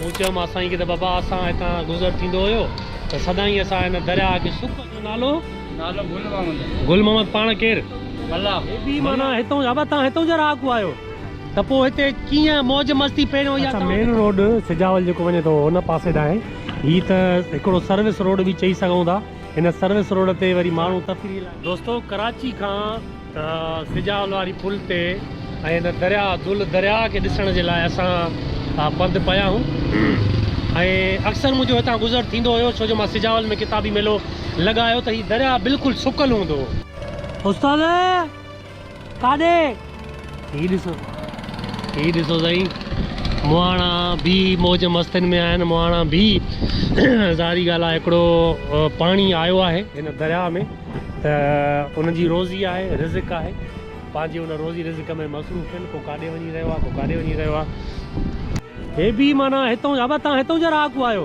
مون چيومانس سائين کي ته بابا اسان هتان گذر ٿيندو هيو ته سدائين اسان هن درياهه کي سڪ جو نالو نالو گل محمد گل محمد پاڻ ڪير؟ ملاح هيبي معنيٰ هتئون جا بابا تان هتئون جا رهاڪو آهيو ته پوء هتي ڪيئن موج مستي پهريون اها اچا مين روڊ سجاول جيڪو وڃي ٿو ان پاسي ڏانهن هي ته هڪڙو سروس روڊ به چئي سگهون ٿا. هن سروس روڊ تي وري ماڻهو تفريح لاء. دوستو ڪراچي کان سجاول واري پل تي ۽ هن درياء دل درياء کي ڏسڻ جي لاء اسان پنڌ پيا آهيون ۽ اڪثر منهنجو هتان گذر ٿيندو هيو ڇو جو مان سجاول ۾ ڪتابي ميلو لڳايو ته هي درياء بلڪل سڪل هوندو هو. استاد! ڪاڏي؟ هي ڏسو هي ڏسو سائين مهاڻا بي موج مستين ۾ آهن مهاڻا بي ظاهري ڳالهه آهي هڪڙو پاڻي آيو آهي هن درياهه ۾ ته ان جي روزي آهي رزق آهي پنهنجي ان روزي رزق ۾ مصروف آهن ڪو ڪاڏي وڃي رهيو آهي ڪو ڪاڏي وڃي رهيو آهي هي بي معنيٰ هتون جا هتون جا رهاڪو آهيو.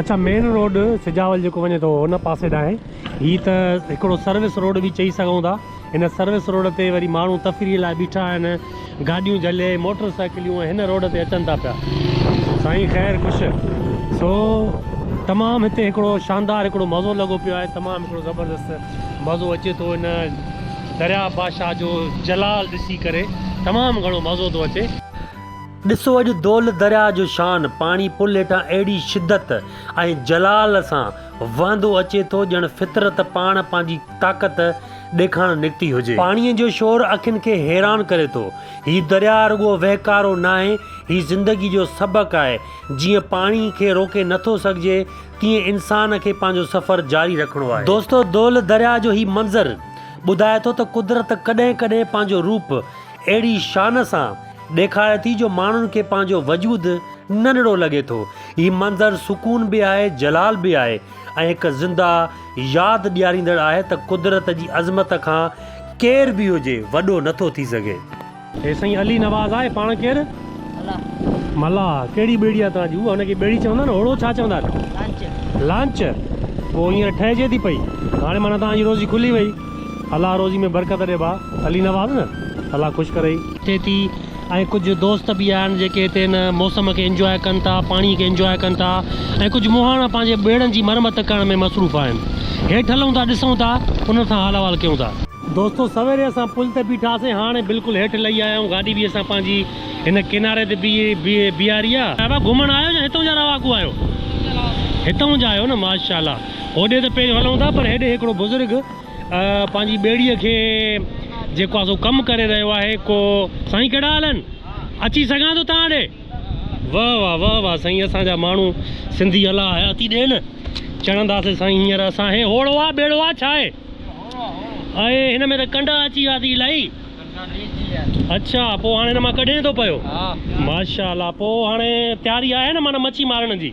اچا مين روڊ سجاول جيڪو وڃي ٿو ان پاسي ڏانهن هي ته هڪڙو سروس روڊ به چئي سگهون ٿا هن سروس روڊ تي وري ماڻهو تفريح لاء بيٺا آهن گاڏيون جهلي موٽر سائيڪليون هن روڊ تي اچن ٿا پيا سائين خير خوش سو تمام هتي هڪڙو شاندار هڪڙو مزو لڳو پيو آهي تمام هڪڙو زبردست مزو اچي ٿو هن دريا بادشاهه جو جلال ڏسي ڪري تمام گهڻو مزو ٿو اچي ڏسو اڄ دول درياهه جو شان پاڻي پل هيٺان اهڙي شدت ۽ جلال سان وهندو اچي ٿو ڄڻ فطرت پاڻ پنهنجي طاقت ڏيکارڻ نڪتي هجي. پاڻيء جو شور اکين کي حيران ڪري ٿو. هي درياهه رڳو وهڪارو ناهي، هي زندگي جو سبق آهي. جيئن پاڻي کي روڪي نٿو سگهجي، تيئن انسان کي پنهنجو سفر جاري رکڻو آهي. دوستو دول درياهه جو هي منظر ٻڌائي ٿو ته قدرت ڪڏهن ڪڏهن پنهنجو روپ اهڙي شان سان ڏيکاري ٿي جو ماڻهن کي پنهنجو وجود ننڍڙو لڳي ٿو. هي منظر سڪون به آهي، جلال به آهي ۽ هڪ زنده ياد ڏياريندڙ آهي ته قدرت جي عظمت کان ڪير به هجي وڏو نٿو ٿي سگهي. هي سائين علي نواز آهي پاڻ ڪير؟ ملاح. ملاح ڪهڙي ٻيڙي آهي توهان جي؟ هو هن کي ٻيڙي چوندا آهن هوڙو ڇا چوندا آهن؟ لانچ. لانچ پوء هينئر ٺهجي ٿي پئي هاڻي معنيٰ توهان جي روزي کلي وئي. الله روزي ۾ برڪت ڏي ڀاء. علي نواز نه الله خوش ڪرئي. ٿئي ٿي ۽ ڪجهه دوست به آهن جيڪي هتي هن موسم کي انجواء ڪن ٿا پاڻي کي انجواء ڪن ٿا ۽ ڪجهه مهاڻا پنهنجي ٻيڙن جي مرمت ڪرڻ ۾ مصروف آهن هيٺ هلون ٿا ڏسون ٿا انهن سان حال احوال ڪيون ٿا. دوستو سويري اسان پل تي بيٺا سين هاڻي بلڪل هيٺ لهي آيا آهيون گاڏي به اسان پنهنجي هن ڪناري تي بيهاري آهي. صاحبه گهمڻ آيو يا هتون جا رهاڪو آهيو. هتون جا آهيو نه ماشاءالله. هوڏي ته پيش هلون ٿا پر هيڏي هڪڙو بزرگ پنهنجي ٻيڙيء کي جيڪو آهي سو ڪم ڪري رهيو آهي ڪو سائين ڪهڙا حال آهن؟ اچي سگهان ٿو توهان ڏي؟ واه واه واه واه سائين اسان جا ماڻهو سنڌي الله حياتي ڏين چڙهنداسين سائين هينئر اسان هي هوڙو آهي ٻيڙو آهي ڇا آهي؟ اهي هن ۾ ته ڪنڊا اچي ويا ٿي الائي اڇا پوء هاڻي هن مان ڪڍين ٿو پيو ماشاء الله پوء هاڻي تياري آهي نه معنيٰ مڇي مارڻ جي؟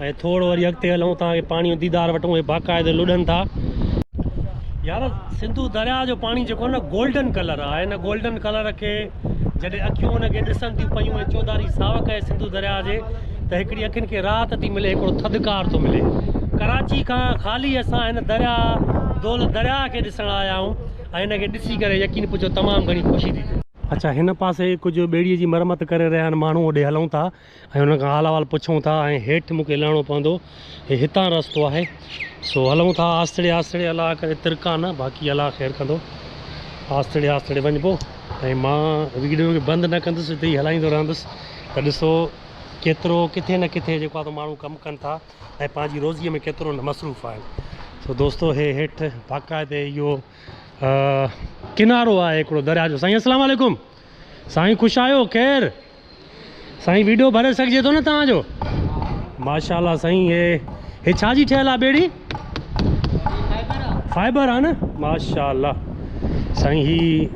۽ ٿورڙو وري اڳتي هلون تان کي پاڻي جو ديدار وٺون هي باقاعده لڏن ٿا يار سنڌو درياء جو پاڻي جيڪو نه گولڊن ڪلر آ هن گولڊن ڪلر کي جڏهن اکيون ان کي ڏسن ٿيون پيون ۽ چوڌاري ساوڪ آهي سنڌو درياء جي ته هڪڙي اکين کي راحت ٿي ملي هڪڙو ٿڌڪار ٿو ملي ڪراچي کان خالي اسان هن درياء دول درياء کي ڏسڻ آيا آهيون ۽ هن کي ڏسي ڪري يقين پچو تمام گهڻي خوشي ٿي ٿئي اچا هن پاسي ڪجهه ٻيڙي جي مرمت ڪري رهيا آهن ماڻهو اوڏي هلون ٿا ۽ انهن کان حال احوال پڇون ٿا ۽ هيٺ مون کي لهڻو پوندو هي هتان رستو آهي سو هلون ٿا آستڙي آستڙي الله ڪري ترڪان نه باقي الله خير ڪندو آستڙي آستڙي وڃبو ۽ مان ويڊيو کي بند نه ڪندس اتي ئي هلائيندو رهندس ته ڏسو ڪيترو ڪٿي نه ڪٿي جيڪو آهي ماڻهو ڪم ڪن ٿا ۽ پنهنجي روزيء ۾ ڪيترو نه مصروف آهن سو دوستو هي هيٺ باقاعده اهو ڪنارو آهي هڪڙو درياء جو سائين السلام عليڪم سائين خوش آهيو خير سائين ويڊيو ڀري سگهجي ٿو نه توهان جو ماشاءالله سائين هي هي ڇا جي ٺهيل آ ٻيڙي فائبر آ نه ماشاءالله سائين هي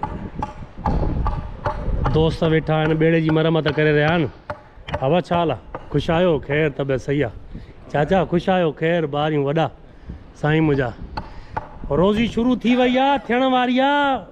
دوست ويٺا آهن ٻيڙي جي مرمت ڪري رهيا آهن اوا ڇا حال خوش آهيو خير طبيعت صحيح آ چاچا خوش آهيو خير ٻاريون وڏا سائين منهنجا روزي شروع ٿي وئي آ ٿيڻ واري آ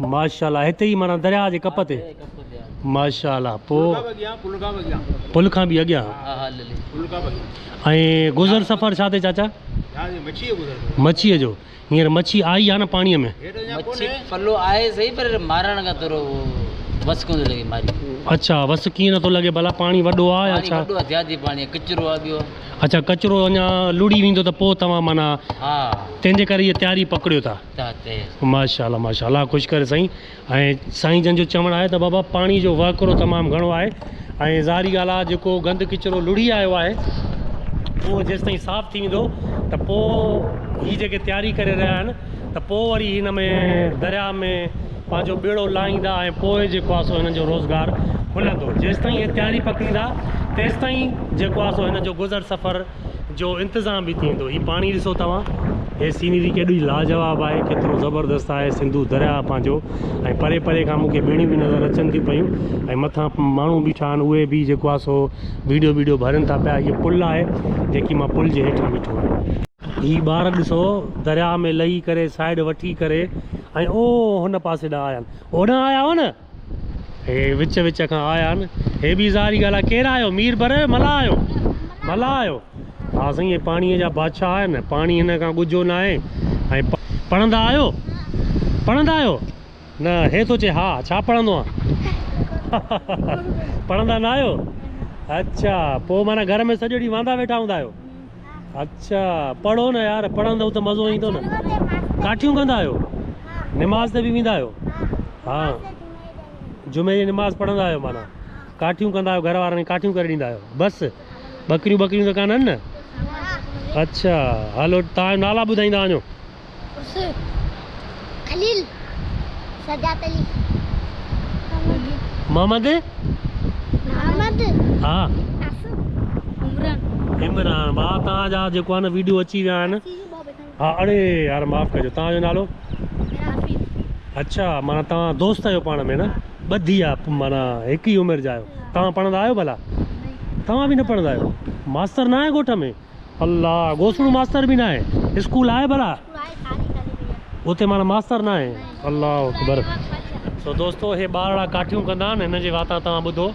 ماشاءالله هتي ئي معنيٰ درياء جي ڪپ تي ماشاءالله پو پل کان به اڳيان ۽ گذر سفر ڇا تي چاچا مڇي جو هينئر مڇي آئي آ نه پاڻي ۾ مڇي پلو آهي صحيح پر مارڻ کان ٿورو وس ڪونه لڳي ماري اچھا وس ڪيئن نٿو لڳي ڀلا پاڻي وڏو آ يا ڇا وڏو زيادي پاڻي ڪچرو آ ٻيو اچھا ڪچرو اڃا لڙي ويندو ته پو توهان معنيٰ ها تنهنجي ڪري هي تياري پڪڙيو ٿا چاهتي هين. ماشاء الله ماشاء الله الله خوش ڪري سائين ۽ سائين جن جو چوڻ آهي ته بابا پاڻي جو وهڪرو تمام گهڻو آهي ۽ ظاهري ڳالهه آهي جيڪو گند ڪچرو لڙهي آيو آهي اهو جيستائين صاف ٿي ويندو ته پوء هي جيڪي تياري ڪري رهيا آهن ته پوء وري هن ۾ درياء ۾ پنهنجو ٻيڙو لاهيندا ۽ پوء جيڪو آهي سو هنن جو روزگار هلندو جيستائين هي تياري پڪڙيندا تيستائين جيڪو آهي سو هن جو گذر سفر جو انتظام به ٿيندو هي پاڻي ڏسو توهان هي سينري ڪيڏي لاجواب آهي ڪيترو زبردست آهي سنڌو درياء پنهنجو ۽ پري پري کان مونکي ٻيڙيون به نظر اچن ٿي پيون ۽ مٿان ماڻهو بيٺا آهن اهي به جيڪو آهي سو ويڊيو بيڊيو ڀرين ٿا پيا هي پل آهي جيڪي مان پل جي هيٺان بيٺو آهيان هي ٻار ڏسو درياء ۾ لهي ڪري سائيڊ وٺي ڪري ۽ اوهو هن پاسي ڏانهن آيا آهن هوڏانهن آيا هئا نه هي وچ وچ کان آيا آهن. هي به اظهاري ڳالهه آهي. ڪير آهيو؟ مير بر آهيو؟ ملاح آهيو؟ ملاح آهيو؟ ها سائين هي پاڻيء جا بادشاهه آهن. پاڻي هن کان ڳجهو نه آهي. ۽ پڙهندا آهيو؟ پڙهندا آهيو؟ نه هي ٿو چئي ها ڇا پڙهندو آن؟ پڙهندا نه آهيو؟ اڇا پوء معنيٰ گهر ۾ سڄو ڏينهن واندا ويٺا هوندا آهيو. اچھا پڙھو نه يار پڙھندو ته مزو ايندو نه ڪاٺيون ڪندا آھيو نماز تي به ويندا آھيو ها جمعي جي نماز پڙھندا آھيو معنی ڪاٺيون ڪندا آھيو گھر وارن کي ڪاٺيون ڪري ڏيندا آھيو بس ٻڪريون ٻڪريون ته ڪانه آھن نه اچھا ھلو تھان جو نالا ٻڌائيندا وڃو عرس خليل سجاد علي محمد محمد ها عمران با تان جا جيڪو آن ويڊيو اچي ويا آن ها اڙي يار معاف ڪجو تان جو نالو اچھا مانا تان دوست آيو پاڻ ۾ نا ٻڌي آ مانا هڪ ئي عمر جا آيو تان پڙھندا آيو ڀلا تان به نه پڙھندا آيو ماستر نه آهي ڳوٺ ۾ الله گوسڙو ماستر به ناهي اسڪول آهي ڀلا اتي مانا ماستر ناهي الله اڪبر سو دوستو هي ٻارڙا ڪاٺيون ڪندا آهن هن جي واتان توهان ٻڌو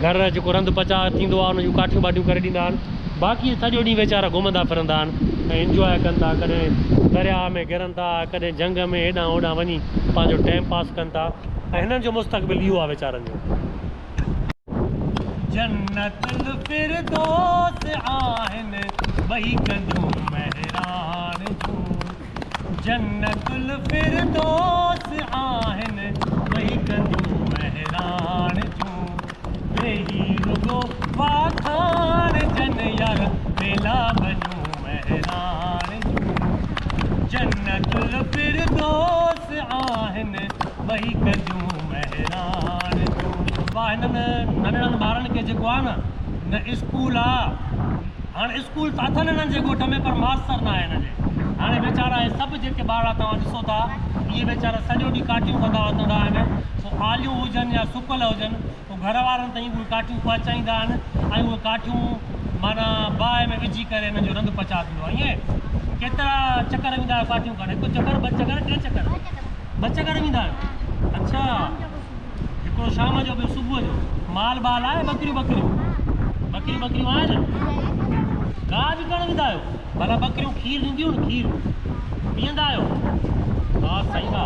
گهر جيڪو رند پچاء ٿيندو آهي ان جون ڪاٺيون ٻاٽيون ڪري ڏيندا آهن باقي سڄو ڏينهن ويچارا گهمندا ڦرندا آهن ۽ انجوائي ڪن ٿا ڪڏهن درياء ۾ گرن ٿا ڪڏهن جهنگ ۾ هيڏانهن هوڏانهن وڃي پنهنجو ٽائيم پاس ڪن ٿا ۽ هنن جو مستقبل اهو آهي ويچارن جو جنت الفردوس آهن ٻئي ڪنجون مهراڻ جون جنت الفردوس آهن ٻئي ڪنجون مهراڻ جون ويهي رڳو واکاڻ جن يار ويلا ٻنيون مهراڻ جون جنت الفردوس بس آهن وهيڪ جون مهراڻ جون. واهه هنن ننڍڙن ٻارن کي جيڪو آ نه نه اسڪول آ هاڻ اسڪول ته اٿن هنن جي ڳوٺ ۾ پر ماستر ناهي هنن جي هاڻي ويچارا هي سڀ جيڪي ٻارڙا توهان ڏسو ٿا اهي ويچارا سڄو ڏينهن ڪاٺيون ڪندا وتندا آهن پوء آليون هجن يا سڪل هجن پوء گهر وارن تائين اهي ڪاٺيون پهچائيندا آهن ۽ اهي ڪاٺيون معنيٰ باهه ۾ وجهي ڪري انهن جو رند پچاء ٿيندو آهي ائين ڪيترا چڪر ويندا آهيو ڪاٺيون ڪڍڻ هڪ چڪر ٻه چڪر ٽي چڪر ٻه چڪر ويندا آهيو اڇا هڪڙو شام جو ٻيو صبح جو مال بال آهي ٻڪريون ٻڪريون ٻڪريون ٻڪريون آهن گاهه به ڪرڻ ويندا آهيو ڀلا ٻڪريون کير ڏينديون آهن کير پيئندا آهيو ها سائين ها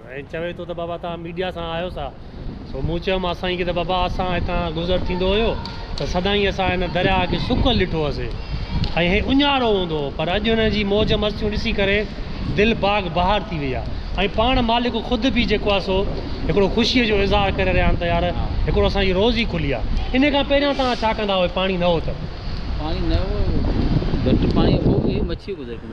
۽ چوي ٿو ته بابا توهان ميڊيا سان آهيو سا؟ سو مون چيو مان سائين کي ته بابا اسان هتان گذر ٿيندو هيو ته سدائين اسان هن درياهه کي سڪل ڏٺو هوسي ۽ هي اڃارو هوندو هو پر اڄ هن جي موج مستيون ڏسي ڪري دل باغ بهار ٿي وئي آهي ۽ پاڻ مالڪ خود به جيڪو آهي سو هڪڙو خوشي جو اظهار ڪري رهيا آهن ته يار هڪڙو اسان جي روزي کلي آهي انهي کان پهريان توهان ڇا ڪندا هئي پاڻي نه هو ته. پاڻي نه هو گهٽ پاڻي هو به مڇيون گذر ڪنديون.